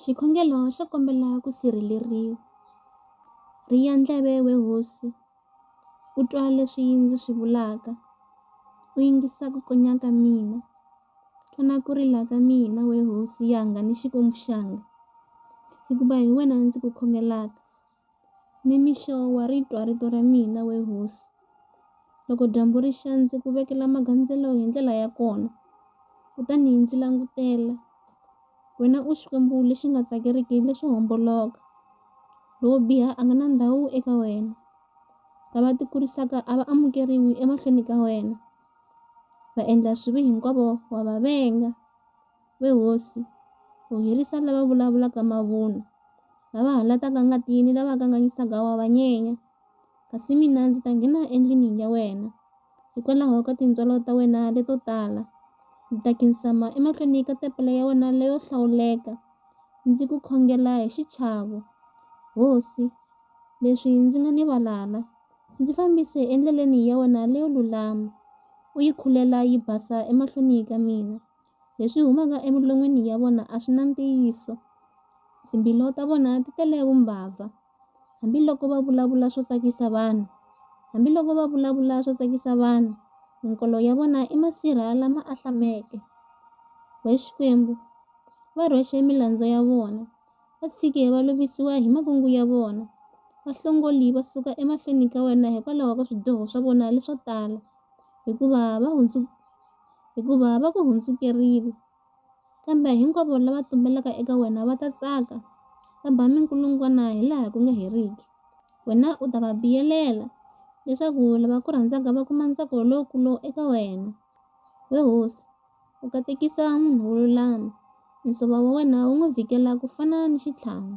Xikhongelo xo kombela ku sirheleriwa. Riya ndleve we hosi, u twa leswi ndzi swi vulaka, u yingisa ku konya ka mina. Twa na ku rila ka mina we hosi yanga ni Xikwembu xanga, hikuva hi wena ndzi ku khongelaka. Nimixo wa ri twa rito ra mina, we hosi. Loko dyambu ri xa, ndzi ku vekela magandzelo hi ndlela ya kona, kutani ndzi langutela. Wena u Xikwembu lexi nga tsakeriki leswo homboloka, lowo biha a nga na ndhawu eka wena. Lava tikurisaka a va amukeriwi emahlweni ka wena, vaendla swibi hinkwavo wa va venga. We hosi, u herisa lava vulavulaka mavunwa, lava halataka ngati ni lava kanganyisaka wa va nyenya. Kasi mina ndzi ta nghena endlwini ya wena, hikwalaho ka tintswalo ta wena leto tala, ndzi ta khinsama emahlweni ka tepele ya wena leyo hlawuleka, ndzi ku khongela hi xichavo. Hosi, leswi ndzi nga ni valala, ndzi fambise endleleni ya wena leyo lulama, u yi khulela yi basa emahlweni ka mina. Leswi humaka emilon'wini ya vona a swi na ntiyiso, timbilu ta vona ti tele vumbabva. Hambiloko va vulavula swo tsakisa vanhu, hambiloko va vulavula swo tsakisa vanhu, minkolo ya vona i masirha lama ahlameke. Wee Xikwembu, va rhwexe milandzu ya vona, va tshike va lovisiwa hi makungu ya vona. Vahlongoli va suka emahlweni ka wena hikwalaho ka swidyoho swa vona leswo tala, hikuva va . hikuva va ku hundzukerile. Kambe hinkwavo lava tumbelaka eka wena va ta tsaka, va ba minkulungwana hi laha ku nga heriki. Wena u ta va biyelela, leswaku lava ku rhandzaka va kuma ntsako lowukulu eka wena. We hosi, u katekisa munhu wo lulama, nsuvo wa wena wu n'wi vhikela ku fana ni xitlhangu.